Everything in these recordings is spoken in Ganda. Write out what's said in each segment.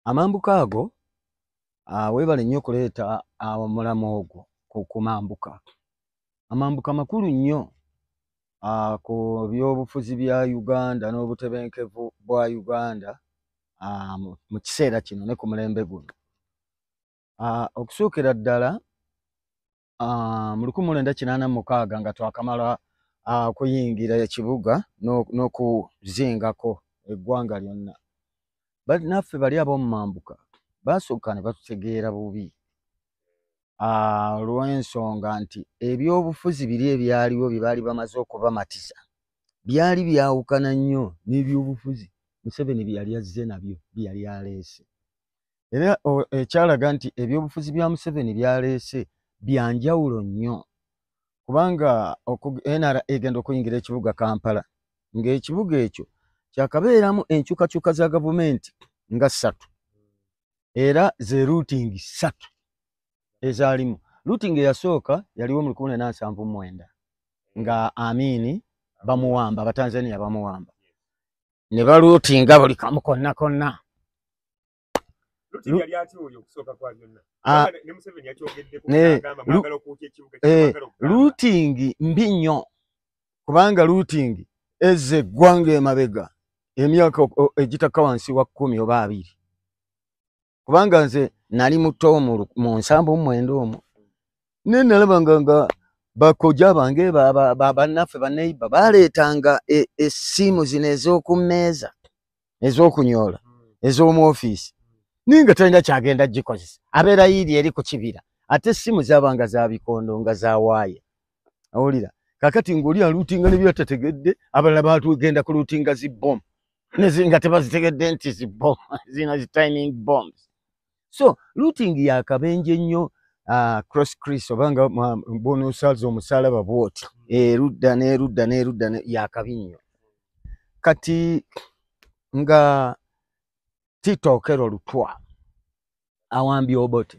amambuka ago ah, webale nnyo okuleeta ah, omulamu ogwo ku mambuka amambuka makulu nnyo ah, ku byobufuzi bya uganda n'obutebenkevu bwa uganda mu kiseera kino ne ku mulembe guno okusuukira ddala ah, mu lukumi lwenda kinaana mukaaga nga twakamala ah, kuyingira ekibuga n'okuzingako eggwanga lyonna naffe bali ab'omumambuka baasooka ne batutegeera bubi ah, olw'ensonga nti ebyobufuzi biri ebyaliwo bye baali bamaze okubamatiza byali byawukana nnyo n'ebyobufuzi museveni bye yali azze nabyo bye yali aleese era ekyalaga nti ebyobufuzi bya museveni byaleese byanjawulo nnyo kubanga nra egenda okuyingira ekibuga kampala ng'ekibuga ekyo kyakabeeramu enkyukakyuka za gavumenti nga ssatu era ze ruutingi ssatu ezaalimu ruutingi eyasooka yaliwo mu lukumi nena nsanvu mwenda nga amiini bamuwamba abatanzania bamuwamba ne baluutinga buli kamu konna konna luutingi ah, eh, mbi nnyo kubanga luutingi eze eggwanga emabega emyaka egitakka wansi wa kkumi oba abiri kubanga nze nali muto mu nsambo mumwenda omwo naye nalabanga nga bakoja bange bannaffe baneiba baleetanga e, essimu zino ez'oku mmeeza ez'okunyoola hmm. ez'omu ofiisi naye nga talina kyagenda gikozesa abeera yiiri eri ku kibira ate essimu zabanga za bikondo nga za waaya awulira kakati ng'oli aluutinga ne byatategedde abalala baatugenda ku luutinga zi bom nga tebazitegedde nti zi bom zina zi timing bombs so luutingi yakabenje nnyo ah, cross cris oba nga bonosals omusalaba bwoti erudda n'erudda n'erudda yakabi nnyo kati nga titookero lutwa awambye obote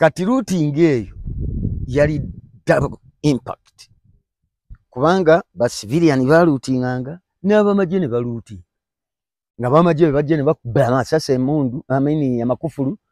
kati luutinga eyo yali double impact kubanga basiviliyani baluutinganga n'abamagye ne baluuti nga bamagye bebajje ne bakubba amasasi emundu amini amakufulu